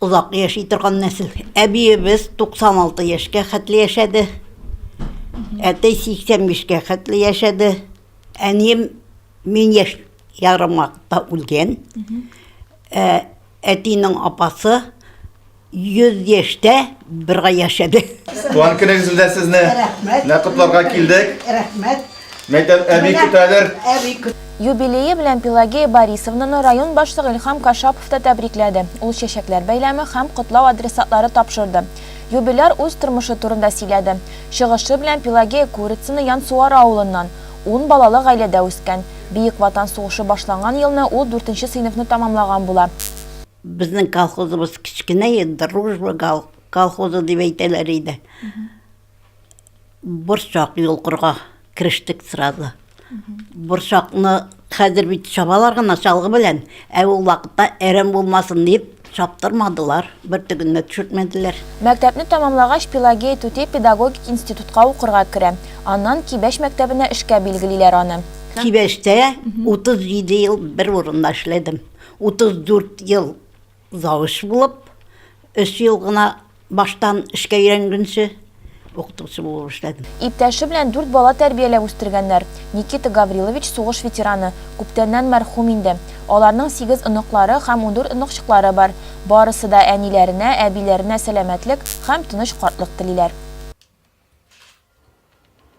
Озак яши торган нәсел. Әбиебез 96 яшькә хәтле яшәде. Әтәй 85-кә хәтле яшәде. Әнием мин яшь ярым вакытта үлгән. Ә, Әтинең апасы 100 яшьтә бер ай яшәде. Туган көнегез белән сезне! Рәхмәт! Менә котларга килдек. Рәхмәт! Мәйтәм, әби көтәдер. Әби көт. Юбилее белән Пелагея Борисовнаны район башлыгы Илһам Кашапов та тәбрикләде, ул чәчәкләр бәйләме һәм котлау адресатлары тапшырды. Юбиляр үз тормышы турында сөйләде. Чыгышы белән Пелагея Курицына Янсуары авылыннан. Ун балалы гаиләдә үскән. Бөек Ватан сугышы башланган елны ул дүртенче сыйныфны тәмамлаган була. Безнең колхозыбыз кечкенә иде, Дружба колхозы дип әйтәләр иде. Борчак йолкырга керештек сразу. Борчакны хәзер бит чабалар гына чалгы белән, ә ул вакытта әрәм булмасын дип чаптырмадылар, бер тегенне төшертмәделәр. Мәктәпне тәмамлагач, Пелагея түти педагогик институтка укырга керә. Аннан Кибәш мәктәбенә эшкә билгелиләр аны. Кибәштә 37 ел бер урында эшләдем. 34 ел Завуч булып, өч ел гына баштан эшкә өйрәнгәнче, укытучы булып эшләдем. Иптәше белән дүрт бала тәрбияләп үстергәннәр. Никита Гаврилович сугыш ветераны, күптәннән мәрхүм инде. Аларның сигез оныклары һәм ундүрт оныкчыклары бар. Барысы да әниләренә, әбиләренә сәламәтлек һәм тыныч картлык телиләр.